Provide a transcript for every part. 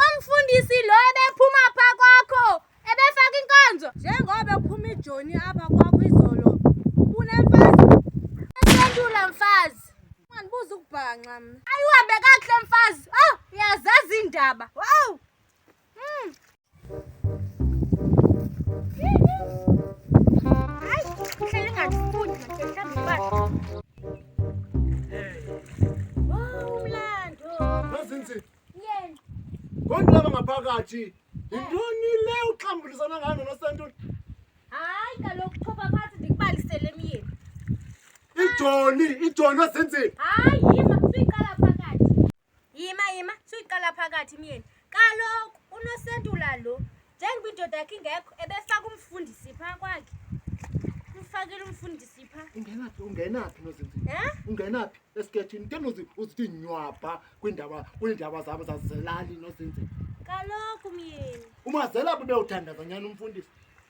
Umfundisi lo ebephuma pha kwakho ebefaka inkonzo njengoba ephuma ijoni apha kwakho izolo unemfazi esendula mfazi ungandibuza ukubhanxa mna ayihambe kakuhle mfazi oh uyazazi iindaba wow ngaphakathi yintoni le uxambulisana ngayo nosantoni hayi kaloku thoba phansi ndikubalisele emyeni ijoni ijoni wazenzeni hayi Yima yima suyiqala phakathi myeni. Kaloku unosentula lo njengoba indoda yakhe ingekho ebefaka umfundisi phaa kwakhe. Umfakile umfundisi phaa. Ungenaphi ungenaphi nozinzi? Eh? Ungenaphi esikethini? Ke nozi uzithi nywabha kwindaba kwindaba zabo zazelali nozinzi. Kaloku myeni. Umazela bube uthandaza nyani umfundisi.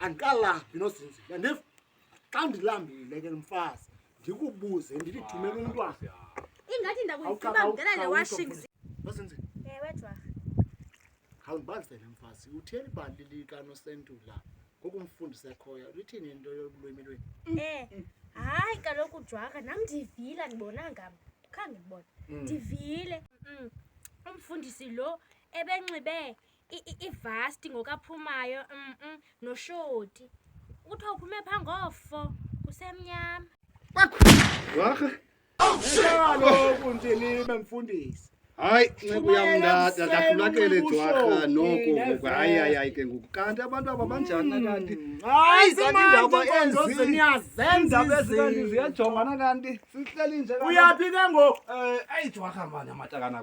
andikalaphi nozinzi yandiva xa ndilambile ke mfazi ndikubuze ndilithumele umntwana ingathi ndakuyithiba mntana le washing nozinzi ewe jwarha khawundibalisele mfazi utheni ibali likanosentula ngoku umfundisi ekhoyo lithini into yolwimi lweni um eh, hayi kaloku jwarha nam ndivile andibona ngam khange ndibona mm. ndivile mm. umfundisi lo ebenxibe ivasti ngokaphumayo mm noshoti kuthiwa uphume pha ngofo kusemnyama warha kaloku nje nibe mfundisi hayi nceku yam ndakulakele jwarha noko ngoku hayi hayi hayi ke ngoku kanti abantu aba banjani nakanti mm. hayi zaniindaba enzinyazenzaindaba ezikanti ziyajongana kanti sihleli nje uyaphi ke ngoku um eh, eyi jwarha mani amatakana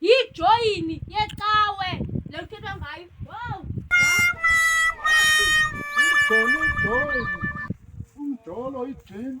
Yijoyini yecawe le kuthethwa ngayo. Wow! Ijolo, ijolo. Umjolo, ijini.